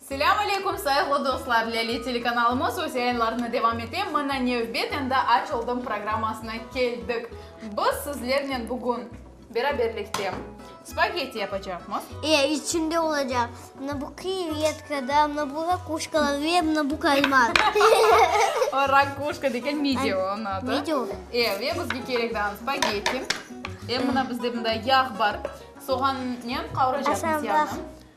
Selâm aleyküm, sayıglı dostlar! Lâle telekanalımız öz yayınlarını devam ete, Mına nevbet, endi aç oldım programmasına keldik. Biz sizlernen bugün beraberlikte spagetti yapacaqmız. Eee, içinde olacaq, mına bu krevetka da, mına bu rakuşkalar ve mına bu kalmar. O rakuşka degil, midye onıñ adı. Midye o. Eee, ve bizge kerek dağın spagetti. Eee, mına bizde mında yağ bar, soğannen qavuracaqmız yağnı. Aşağıda.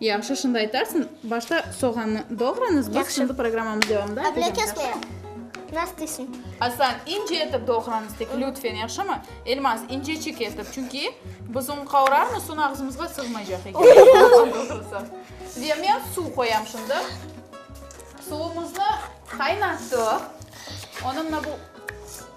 Yahşı, şimdi aytarsıñ. Başta soğannı doğrañız, biz şimdi programmamız devamında aytacam. Yahşı. Avlâkesme. Nasıl deysıñ? Asan, ince etip doğrañız tek, lütfen, yahşımı? Elmaz, inceçik etip, çünki biz onı qavurarmız, soñ ağzımızğa sığmaycaq eken. Doğru doğrusı. Ve men suv qoyam şimdi. Suvumıznı qaynattıq. Onı mına bu.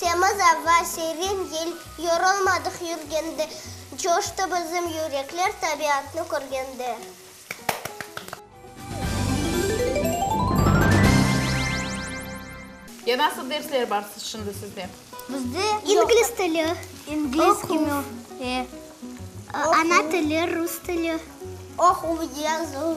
Temiz ava, serin yel, yorulmadıq yürgende, Coştı bizim yürekler, tabiatnı körgende. Ya nasıl dersler bar şimdi sizde? Bizde İngliz tili, oquv, ana tili, rus tili, oquv, yazuv,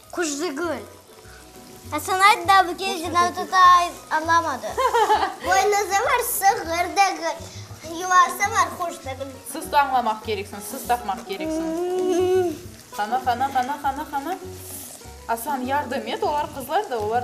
Quşzigül. Asanaydı da bu kece ne tuta anlamadı. Boynuzı var sığır degil. Yuvası var quş degil. Sız tañlamaq kereksiñ, sız tapmaq kereksiñ. Qana, qana, qana, qana, qana. Aslan, yardım et, olar qızlar da, olar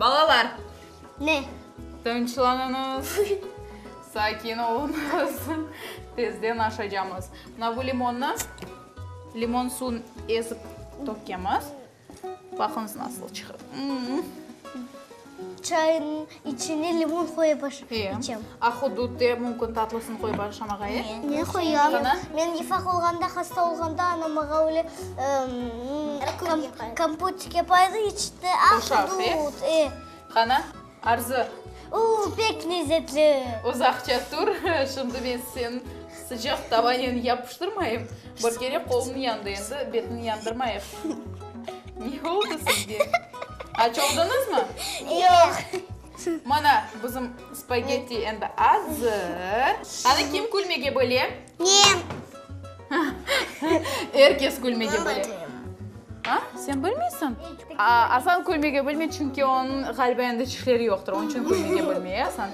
Balalar! Ne? Tınçlanıñız, sakin oluñız, tezden aşacamız. Mına bu limonnı limon suvun ezip tökemiz. Baqıñız, nasıl çıqıp. Çayınıñ içine limon qoyıp içem. A hududde mümkün tatlısını qoyıp aşam ağa, e? Men qoyam. Men ifaq olğanda, hasta olğanda anam mağa öyle kompotik yapaydı, içti. A hudud, e. Qana, Arzı. Uuu, pek lezetli. Uzaqça tur, şimdi men seni. Sıcaq tavanen yapıştırmayıp, bir kere qolunıñ yandı, endi betini yandırmayıq. Ne oldı sizge? Aç oldunuzmı? Yoq. Mana, bizim spagetti endi azır. Qani, kim külmege bile? Men. Er kes külmege bile. A? Sen bilmeysiñ? A, Aslan külmege bilmey, çünki onıñ, ğaliba, endi çişleri yoqtır, onıñ içün külmege bilmey, Aslan.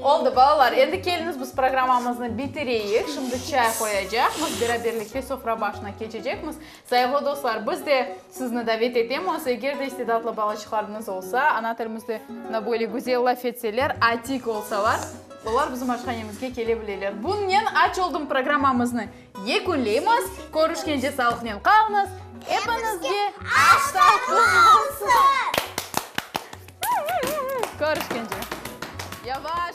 Oldı, balalar, endi keliñiz, biz programmamıznı bitireyik. Şimdi çay qoyacaqmız, beraberlikte sofra başına keçecekmiz. Sayıqlı dostlar, biz de sizni davet etemiz, eger de istidatlı balaçıqlarıñız olsa, ana tilimizde mına böyle güzel laf etseler, atik olsalar, olar bizim aşhanemizge kele bileler. Bunnen aç oldım programmamıznı. Yekünleymiz, körüşkence sağlıqnen qalınız, epiñizge aş tatlı olsun! Körüşkence! Yavaş!